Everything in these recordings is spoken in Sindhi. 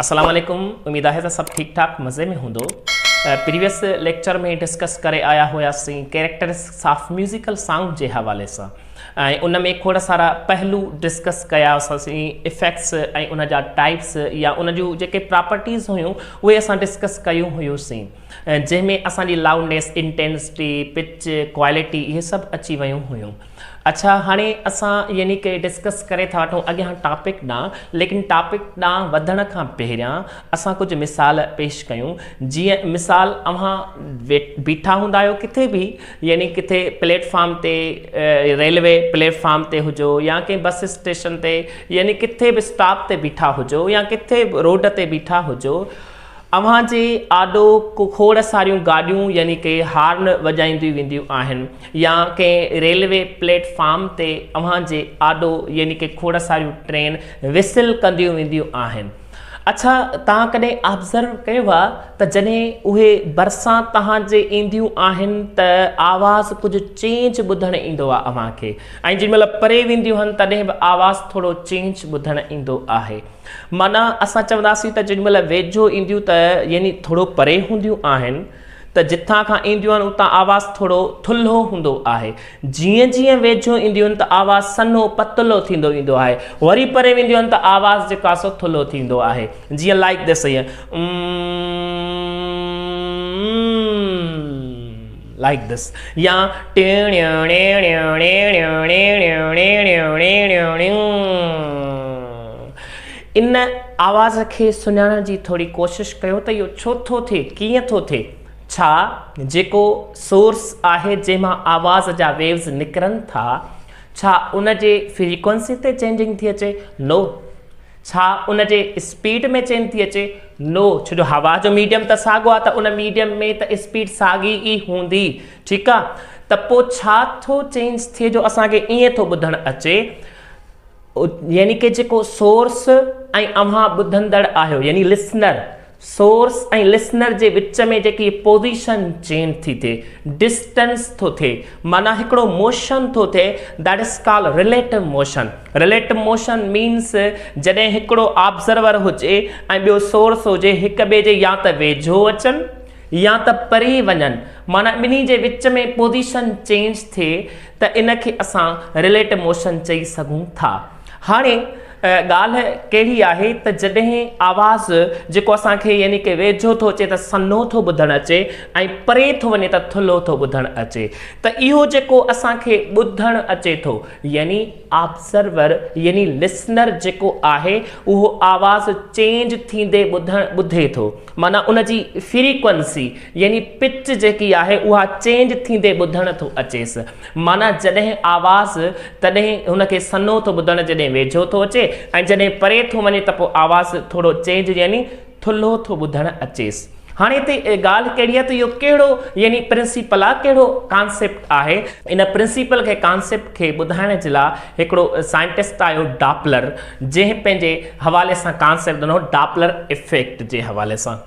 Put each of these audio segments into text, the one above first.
اسلام عليڪم اميد آهي ته سڀ ٺيڪ ٺاڪ مزي ۾ هوندو پريويس ليڪچر ۾ ڊسڪس ڪري آيا هياسين ڪيريڪٽرسٽڪس آف ميوزيڪل سانگ جي حوالي سان ۽ ان ۾ کوڙ سارا پهلو ڊسڪس ڪيا اسين افيڪٽس ۽ ان جا ٽائپس يا ان جون جيڪي پراپرٽيز هيون اهي اسان ڊسڪس ڪيون هيوسين جنهن ۾ اسان جي لاؤنڊنيس انٽينسٽي پچ ڪوالٽي اهي سڀ اچي ويون هيون اڇا هاڻي اسان يعني ڪي ڊسڪس ڪري ٿا وٺون اڳيان ٽاپڪ ڏانهن ليڪن ٽاپڪ ڏانهن وڌڻ کان پهريان اسان ڪجهه مثال پيش ڪيون جيئن مثال اوهان بيٺا هوندا آهيو ڪٿي به يعني ڪٿي پليٽ فارم تي ريلوي پليٽ فارم تي هجو يا ڪنهن بس اسٽيشن تي يعني ڪٿي به اسٽاپ تي بيٺا هجو يا ڪٿي روڊ تي بيٺا هجو اوهان جي آڏو ڪو کوڙ ساريون گاڏيون يعني ڪي هارن وڄائينديون وينديون آهن يا ڪنهن ريلوي پليٽ فارم تي اوهان جي آڏو يعني ڪي کوڙ ساريون ٽرين وسل ڪنديون وينديون آهن اڇا توهان ڪڏهن آبزرو ڪيو آ ته جڏهن اهي ڀرسان توهان جي اينديون آهن ته آواز ڪجهه چينج ٻڌڻ ايندو آ اوهان کي ۽ جيڏي مهل پري وينديون هن تڏهن به آواز ٿورو چينج ٻڌڻ ايندو آهي معنيٰ اسان چونداسين ته جيڏي مهل ويجهو اينديون ته يعني ٿورو پري هونديون آهن ته جتان کان اينديون آهن اتان آواز ٿورو ٿلهو هوندو آهي. جيئن جيئن ويجهو اينديون آهن ته آواز سنهو پتلو ٿيندو ويندو آهي. وري پري وينديون آهن ته آواز جيڪو آهي سو ٿلهو ٿيندو آهي. جيئن لائيڪ ڌس هيئن. امم. Like this يا ان آواز کي سڃاڻڻ جي ٿوري ڪوشش ڪيو ته اهو ڇو ٿو ٿئي ڪيئن ٿو ٿئي ڇا جيڪو سورس آهي جنهن مان آواز جا ويوز نڪرن ٿا ڇا ان جي فريڪوئنسي تي چينجنگ ٿي اچي نو ڇا ان جي اسپيڊ ۾ چينج ٿي اچي؟ نو، ڇو جو هوا جو ميڊيم ته ساڳو آهي ته ان ميڊيم ۾ ته اسپيڊ ساڳي ئي هوندي. ٺيڪ آهي ته پوء ڇا ٿو چينج ٿئي جو اسان کي ائين ٿو ٻڌڻ اچي يعني ڪه جيڪو سورس ۽ اوهان ٻڌندڙ آهيو يعني Listener سورس ۽ لسنر جي وچ ۾ جيڪي پوزيشن چينج ٿي ٿئي، ڊسٽنس ٿو ٿئي، معنيٰ هڪڙو موشن ٿو ٿئي That is called Relative Motion. Relative Motion means جڏهن هڪڙو آبزرور هجي ۽ ٻيو سورس هجي هڪ ٻئي جي يا ته ويجهو اچن يا ته پري وڃن معنيٰ ٻنهي جي وچ ۾ پوزيشن چينج ٿئي ته ان کي اسان Relative Motion چئي سگهون ٿا. هاڻي ڳالهه ڪهڙي آهي ته جڏهن آواز جيڪو اسان کي يعني ڪه ويجهو ٿو اچي ته سنهو ٿو ٻڌڻ اچي ۽ پري ٿو وڃي ته ٿلهو ٿو ٻڌڻ اچي ته اهو جيڪو اسان کي ٻڌڻ اچي ٿو يعني آبزرور يعني لسنر جيڪو آهي اهو آواز چينج ٿيندي ٻڌڻ ٻڌي ٿو معنيٰ ان جي فريڪوئنسي يعني پچ جيڪي آهي اها چينج ٿيندي ٻڌڻ ٿو اچيس معنيٰ جڏهن آواز تڏهن هن کي سنهو ٿو ٻڌڻ جڏهن ويجهو ٿو اچي ۽ جڏهن پري ٿو وڃي ته پوء آواز ٿورو چينج يعني ٿلهو ٿو ٻڌڻ اچيس. هاڻي هتي ڳالهه ڪهڙي آهي ته اهو ڪهڙو يعني پرنسيپل آهي ڪهڙو ڪانسيپٽ آهي. ان پرنسيپل کي ڪانسيپٽ کي ٻڌائڻ جي لاء هڪڙو سائنٽسٽ آيو ڊاپلر جنهن پنهنجي حوالي سان ڪانسيپٽ ڏنو ڊاپلر افيڪٽ جي حوالي سان.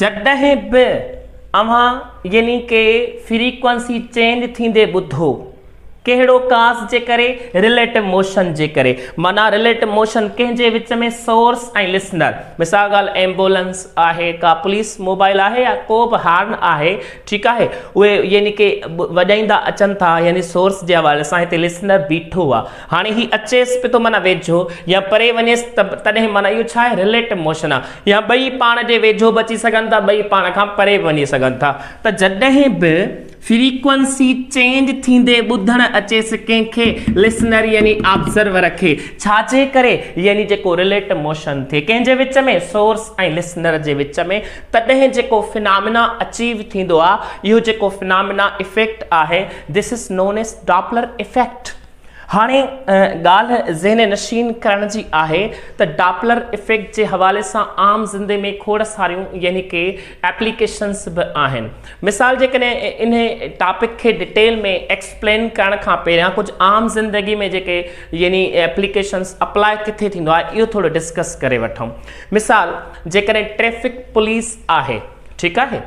جڏهن به اوهان يعني ڪي فريڪوئنسي چينج ٿيندي ٻڌو ڪهڙو ڪاس جي ڪري رليٽو موشن جي ڪري معنيٰ رليٽو موشن ڪنهن جي وچ ۾ سورس ۽ لسنر مثال ڳالهه ايمبولنس آهي ڪا پوليس موبائل آهي يا ڪو به هارن آهي ٺيڪ آهي اهي يعني ڪي وڄائيندا اچن ٿا يعني سورس جي حوالي سان هتي لسنر بيٺو آهي هاڻي هي اچيس به ٿو معنيٰ ويجهو يا پري وڃيس ته به تڏهن معنيٰ اهو ڇا آهي رليٽو موشن آهي يا ٻئي پاڻ جي ويجهو به اچي سگهن ٿا ٻئي پاڻ کان پري به وڃي سگهن ٿا ته جڏهن به فريڪوئنسي چينج ٿيندي ٻڌڻ اچيس ڪنهن کي لسنر يعني آبزرور کي ڇا جي ڪري يعني جيڪو رليٽو موشن ٿئي ڪنهن جي وچ ۾ سورس ۽ لسنر جي وچ ۾ تڏهن جيڪو فنامنا اچيو ٿيندو آهي اهو جيڪو فنامنا افيڪٽ آهي this is known as Doppler effect. هاڻي ڳالهه ذهن نشين ڪرڻ جي آهي ته ڊاپلر افيڪٽ جي حوالي سان عام زندي ۾ کوڙ ساريون يعني ڪي ايپليڪيشنز به آهن. مثال جيڪڏهن انهي ٽاپڪ کي ڊٽيل ۾ ايڪسپلين ڪرڻ کان پهريان ڪجهه عام زندگي ۾ جيڪي يعني ايپليڪيشنز اپلاء ڪٿي ٿيندو آهي اهو ٿورو ڊسڪس ڪري وٺون. مثال جيڪڏهن ٽريفڪ پوليس آهي ٺيڪ آهي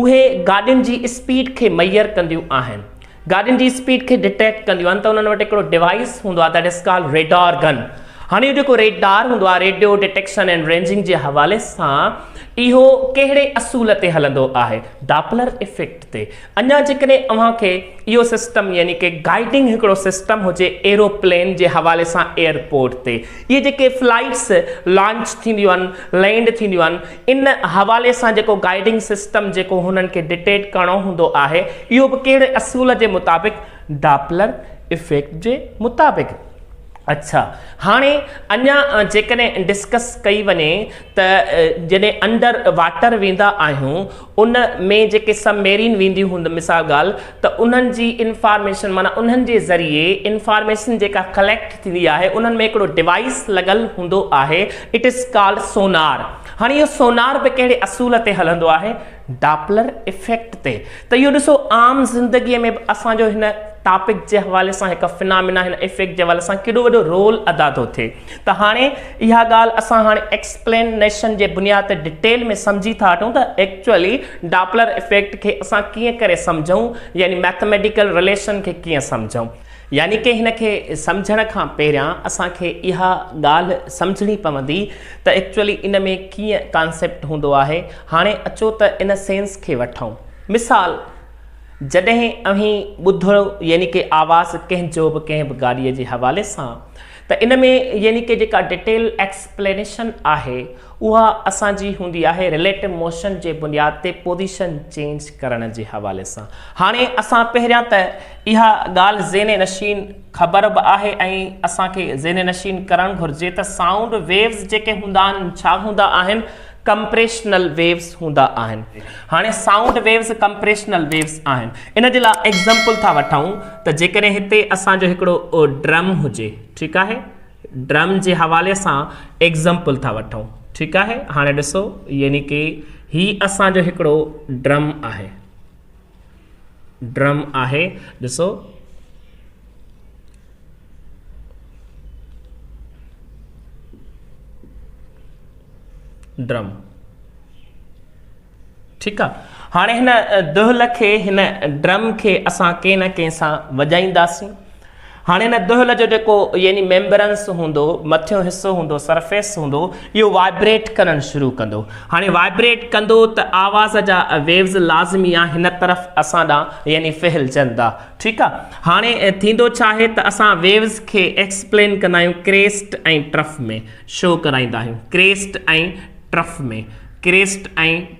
اهي گاڏين جي اسپيڊ کي ميئر ڪنديون آهن. گاڏين جي اسپيڊ کي ڊٽيڪٽ ڪنديون آهن ته انهن وٽ هڪڙو ڊوائيس هوندو آهي that is called radar gun هاڻي اهو جيڪو ريڊار هوندو آهي ريڊيو ڊٽيڪشن اينڊ رينجنگ جي حوالي سان اهو ڪهڙي اصول تي هلندو آهي ڊاپلر افيڪٽ تي اڃا جيڪڏهن اوهان کي اهو سسٽم يعني ڪي گائيڊنگ هڪڙو سسٽم هجي ايروپلين جي حوالي سان ايئرپورٽ تي اهي جيڪي فلائيٽس لانچ ٿينديون آهن لينڊ ٿينديون آهن ان حوالي سان جيڪو گائيڊنگ سسٽم جيڪو هنن کي ڊٽيٽ ڪرڻو هوندو آهي اهو به ڪهڙي اصول جي مطابق ڊاپلر افيڪٽ جي مطابق اڇا هاڻي اڃا جيڪڏهن ڊسڪس ڪئي وڃي ته جڏهن انڊر واٽر ويندا آهيون ان ۾ جيڪي سب ميرين وينديون هوند مثال ڳالهه ته انهن جي انفارميشن معنيٰ انهن جي ذريعي انفارميشن جيڪا ڪليڪٽ ٿيندي آهي انهن ۾ هڪڙو ڊوائيس لڳل هوندو آهي اٽ از ڪالڊ سونار هاڻي اهو سونار به ڪهڙي اصول تي هلندو آهي ڊاپلر افيڪٽ تي ته اهو ڏسو عام زندگي ۾ به اسان جو هن ٽاپڪ جي حوالي سان هڪ فنامنا هن افيڪٽ جي حوالي سان ڪيڏو وڏو رول ادا ٿو ٿئي. ته هاڻي اها ڳالهه اسان هاڻي ايڪسپلينيشن جي بنياد تي ڊٽيل ۾ سمجهي ٿا هٽون ته ايڪچوئلي ڊاپلر افيڪٽ کي اسان ڪيئن ڪري سمجهون يعني مئٿميٽيڪل رليشن کي ڪيئن سمجهون يعني ڪي هن کي سمجهڻ کان پهريان اسان کي اها ڳالهه سمجهڻي پوندي ته ايڪچوئلي ان ۾ ڪيئن ڪانسيپٽ هوندو آهي هاڻي اچو ته ان سينس کي وٺون مثال جڏهن اوهين ٻڌو يعني ڪي آواز ڪنهن جو به ڪنهن به گاڏيء جي حوالي سان ته ان ۾ يعني ڪه جيڪا ڊيٽيل ايڪسپلينيشن آهي اها اسان جي هوندي آهي رليٽو موشن جي بنياد تي پوزيشن چينج ڪرڻ جي حوالي سان. هاڻي اسان پهريان ته اها ڳالهه ذهن نشين خبر به آهي ۽ اسان کي ذهن نشين ڪرڻ گهرجي ته سائونڊ ويوز جيڪي هوندا آهن ڇا هوندا آهن ڪمپريشنل ويوز هوندا آهن. هاڻي سائونڊ ويوز ڪمپريشنل ويوز آهن. ان جي لاء ايگزامپل ٿا وٺون ته جيڪڏهن هتي اسان جو هڪڙو ڊرم هجي ٺيڪ آهي ڊرم جي حوالي سان ايگزامپل ٿا وٺون ٺيڪ آهي هاڻي ڏسو يعني ڪي هي اسان جو هڪڙو ڊرم آهي. ڊرم آهي ڏسو. ڊرم ٺيڪ آ هاڻي هن دهل کي هن ڊرم کي اسان ڪنهن نه ڪنهن سان وڄائينداسين هاڻي هن دهل جو جيڪو يعني ميمبرنس هوندو، مٿيون حصو هوندو، سرفيس هوندو، اهو وائبريٽ ڪرڻ شروع ڪندو. هاڻي وائبريٽ ڪندو ته آواز جا ويوز لازمي آهن هن طرف اسان ڏانهن يعني ڦهلجندا. ٺيڪ آ. هاڻي ٿيندو ڇا آهي ته اسان ويوز کي ايڪسپلين ڪندا آهيون ڪريسٽ ۽ ٽرف ۾ شو ڪرائيندا آهيون ڪريسٽ ۽ ٽرف ۾ ڪريسٽ ۽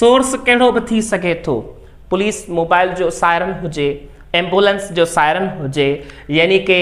سورس ڪهڙو به ٿي سگهي ٿو، پوليس موبائل جو سائرن هجي، ايمبولينس جو سائرن هجي، يعني ڪي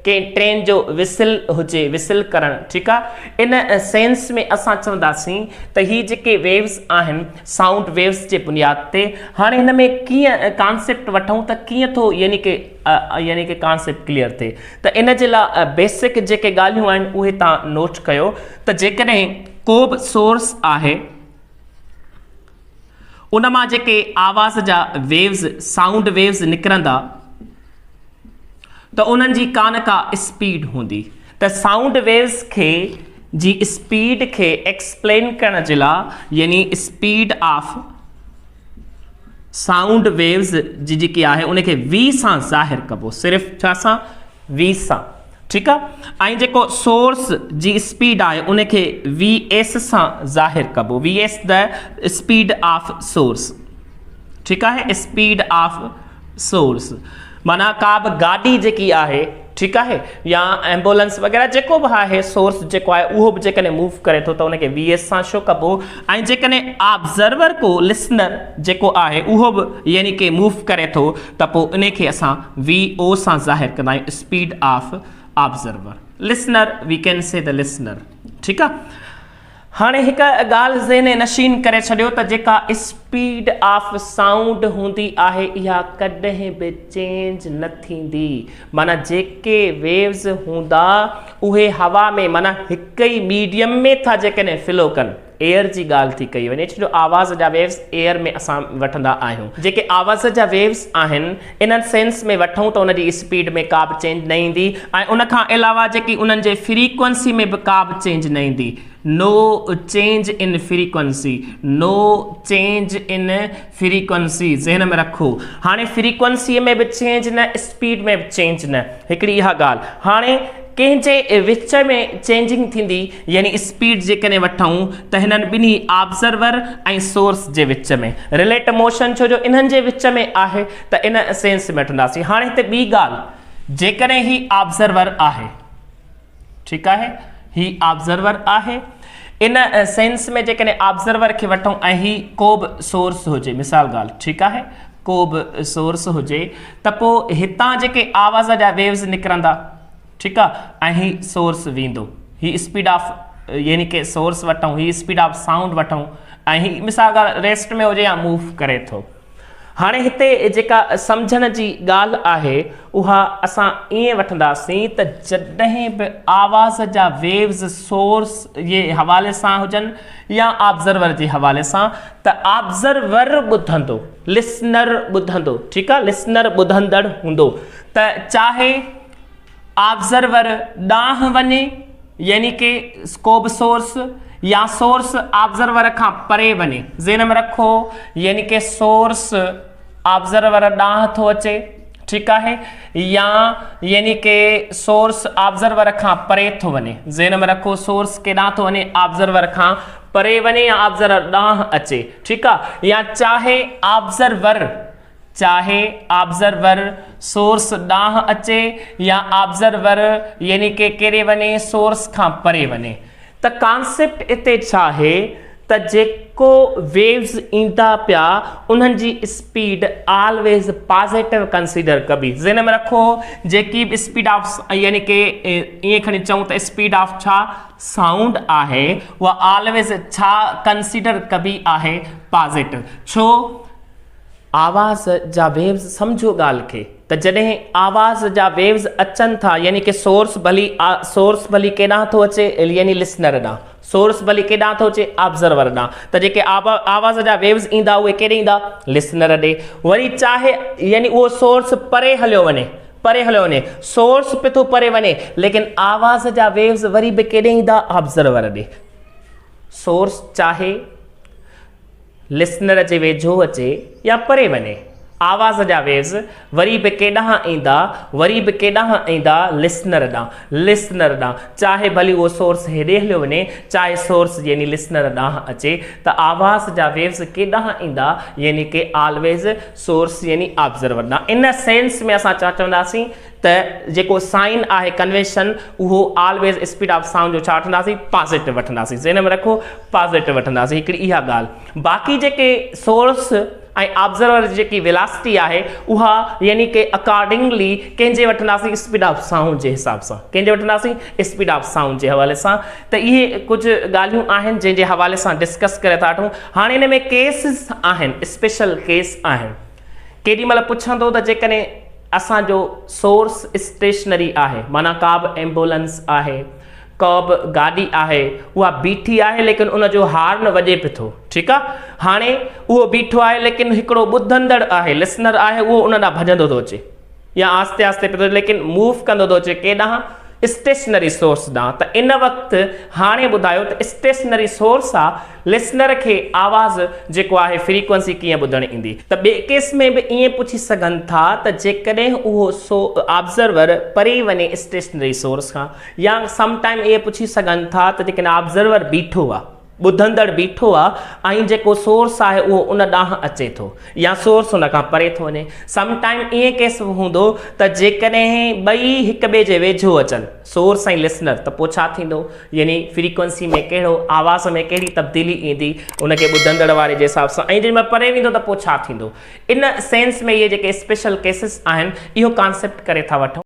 ڪنهن ٽرين جو وسل هجي، وسل ڪرڻ ٺيڪ آ، ان سينس ۾ اسان چونداسين ته هي جيڪي ويوز آهن سائونڊ ويوز جي بنياد تي هاڻي هن ۾ ڪيئن ڪانسيپٽ وٺون ته ڪيئن ٿو يعني ڪي يعني ڪي ڪانسيپٽ ڪليئر ٿئي ته ان جي لاء بيسڪ جيڪي ڳالهيون آهن اهي تان نوٽ ڪيو ته جيڪڏهن ڪو به سورس آهي ان مان جيڪي آواز جا ويوز سائونڊ ويوز نڪرندا ته انهن جي ڪانه ڪا اسپيڊ هوندي ته سائونڊ ويوز کي جي اسپيڊ کي ايڪسپلين ڪرڻ جي لاء يعني اسپيڊ آف سائونڊ ويوز جي جيڪي آهي ان کي وي سان ظاهر ڪبو صرف ڇا سان وي سان ٺيڪ آ ۽ جيڪو سورس جي اسپيڊ آهي ان کي وي ايس سان ظاهر ڪبو وي ايس ته اسپيڊ آف سورس ٺيڪ آهي اسپيڊ آف سورس معنيٰ ڪا به گاڏي جيڪي آهي ٺيڪ آهي يا ايمبولنس وغيره جيڪو به آهي سورس جيڪو آهي اهو به جيڪڏهن موو ڪري ٿو ته ان کي وي ايس سان شو ڪبو ۽ جيڪڏهن آبزرور ڪو لسنر جيڪو آهي اهو به يعني ڪي موو ڪري ٿو ته پوء انهي کي اسان وي او سان ظاهر ڪندا آهيون speed of observer listener V can say ته لسنر ٺيڪ آ هاڻي هڪ ڳالهه ذهن نشين ڪري ڇڏيو ته جيڪا اسپيڊ آف سائونڊ هوندي آهي اها ڪڏهن به چينج نه ٿيندي معنيٰ جيڪي ويوز هوندا اهي هوا ۾ معنيٰ هڪ ئي ميڊيم ۾ ٿا جيڪڏهن فلو ڪن ايئر جي ڳالهه ٿي ڪئي وڃي ڇو جو آواز جا ويوز ايئر ۾ اسان وٺندا آهيون جيڪي آواز جا ويوز آهن انهن سينس ۾ وٺون ته ان جي اسپيڊ ۾ ڪا به چينج نه ايندي ۽ ان کان علاوه جيڪي انهن جي فريڪوئنسي ۾ به ڪا به چينج نه ايندي no change in frequency no change in frequency ذهن ۾ رکو هاڻي فريڪوئنسي ۾ به چينج نه اسپيڊ ۾ به چينج نه هڪڙي اها ڳالهه هاڻي ڪنهن جي وچ ۾ چينجنگ ٿيندي يعني اسپيڊ جيڪڏهن وٺون ته هنن ٻنهي آبزرور ۽ سورس جي وچ ۾ رليٽ موشن ڇو جو انهن جي وچ ۾ آهي ته ان سينس ۾ وٺنداسين هاڻي هتي ٻي ڳالهه جيڪڏهن هي آبزرور آهي ٺيڪ آهي هي آبزرور آهي ان سينس ۾ جيڪڏهن آبزرور کي وٺون ۽ هي ڪو به سورس هجي مثال ڳالهه ٺيڪ آهي ڪو به سورس هجي ته پوء هتان جيڪي آواز جا ويوز نڪرندا ٺيڪ آ ۽ هي سورس ويندو هي اسپيڊ آف يعني ڪي سورس وٺون هي اسپيڊ آف سائونڊ وٺون ۽ هي مثال ڳالهه ريسٽ ۾ هجي يا موو ڪري ٿو هاڻي هتي جيڪا سمجهڻ جي ڳالهه آهي اها اسان ائين وٺنداسين ته جڏهن به آواز جا ويوز سورس جي حوالي سان هجن يا آبزرور جي حوالي سان ته آبزرور ٻڌندو لسنر ٻڌندو ٺيڪ آ لسنر ٻڌندڙ هوندو ته چاهي آبزرور ڏانهن وڃي يعني ڪي ڪو به سورس يا سورس آبزرور کان پري وڃي ذهن ۾ رکو يعني ڪي سورس آبزرور ڏانهن ٿو اچي ٺيڪ آهي يا يعني ڪي سورس آبزرور کان پري ٿو وڃي ذهن ۾ رکو سورس ڪيڏانهن ٿو وڃي آبزرور کان پري وڃي يا آبزرور ڏانهن اچي ٺيڪ آ يا چاهي آبزرور چاهي آبزرور سورس ڏانهن اچي يا آبزرور يعني ڪي ڪيڏي وڃي سورس کان پري وڃي ته ڪانسيپٽ اتي ڇا آهي ته جيڪو ويوز ايندا پيا انهن جي اسپيڊ آلويز پازيٽو ڪنسيڊر ڪبي ذهن ۾ رکو جيڪي به اسپيڊ آف يعني ڪي ائين کڻي چئون ته اسپيڊ آف ڇا سائونڊ آهي اها آلويز ڇا ڪنسيڊر ڪبي آهي پازيٽو ڇو آواز جا ويوز سمجهو ڳالهه کي ته جڏهن آواز جا ويوز اچن ٿا يعني ڪي سورس ڀلي سورس ڀلي ڪيڏانهن ٿو اچي يعني لسنر ڏانهن سورس ڀلي ڪيڏانهن ٿو اچي آبزرور ڏانهن ته جيڪي آواز جا ويوز ايندا اهي ڪيڏي ايندا لسنر ڏي وري چاهي يعني اهو سورس پري هليو وڃي پري هليو وڃي، سورس به ٿو پري وڃي، ليڪن آواز جا ويوز وري به ڪيڏي ايندا آبزرور ڏي. سورس چاهي لسنر جي ويجهو اچي يا پري وڃي، آواز جا ويوز وري به ڪيڏانهن ايندا، وري به ڪيڏانهن ايندا لسنر ڏانهن، لسنر ڏانهن، چاهي ڀلي اهو سورس هيڏي هليو وڃي، چاهي سورس يعني لسنر ڏانهن اچي ته آواز جا ويوز ڪيڏانهن ايندا يعني ڪي آلويز سورس يعني آبزرور ڏانهن. ان سينس ۾ اسان ڇا چونداسين ته جيڪو سائن آهي ڪنويشن اهو آلويز اسپيڊ آف سائونڊ جو ڇا وٺنداسين پازيٽو وٺنداسين ذهن ۾ رکو پازيٽو وٺنداسين هڪڙي اها ڳالهه باقي جيڪي سورس ۽ آبزرور جي جيڪي ويلاسٽي آهي اها يعني ڪي اڪارڊنگلي ڪنهن جي وٺنداسين اسپيڊ آف سائونڊ جي حساب سان ڪنهن جي وٺنداسين اسپيڊ آف سائونڊ جي حوالي سان ته اهي ڪجهه ڳالهيون آهن جنهن جي حوالي سان ڊسڪس ڪري ٿا وٺون هاڻي ان ۾ ڪيسز آهن اسپيشل ڪيس آهن ڪيڏي مهل پڇندو ته جيڪڏهن اسان جو سورس اسٽيشنري آهي معنيٰ ڪابه ايمبولنس آهي ڪابه گاڏي آهي اها بيٺي آهي ليڪن ان جو هارن وڄي به ٿو ٺيڪ آهي هاڻي اهو بيٺو آهي ليڪن هڪڙو ٻڌندڙ آهي لسنر آهي اهو ان ڏانهن ڀڄندو ٿو اچي يا آهستي آهستي پيو ٿو ليڪن موو ڪندو ٿو اچي ڪي ڏانهن اسٽيشنري سورس ڏانهن ته ان وقت هاڻي ٻڌايو ته اسٽيشنري سورس آ لسنر کي آواز جيڪو آهي فريڪوئنسي ڪيئن ٻڌڻ ايندي ته ٻئي ڪيس ۾ به ائين پڇي سگهن ٿا ته جيڪڏهن اهو سو آبزرور پري وڃي اسٽيشنري سورس کان يا سم ٽائيم ائين پڇي سگهن ٿا ته جيڪڏهن آبزرور بيٺو آ ٻڌندڙ بيٺو آ ۽ جيڪو سورس آهي اهو ان ڏانهن اچي ٿو يا سورس ان کان پري ٿو وڃي سم ٽائيم ائين ڪيس به هوندو ته جيڪڏهن ٻئي هڪ ٻئي جي ويجهو اچن سورس ۽ لسنر ته پوء ڇا ٿيندو يعني فريڪوئنسي ۾ ڪهڙو آواز ۾ ڪهڙي تبديلي ايندي ان کي ٻڌندڙ واري جي حساب سان ۽ جيڪڏهن مهل پري ويندو ته پوء ڇا ٿيندو ان سينس ۾ اهي جيڪي اسپيشل ڪيسز آهن اهو ڪانسيپٽ ڪري ٿا وٺون.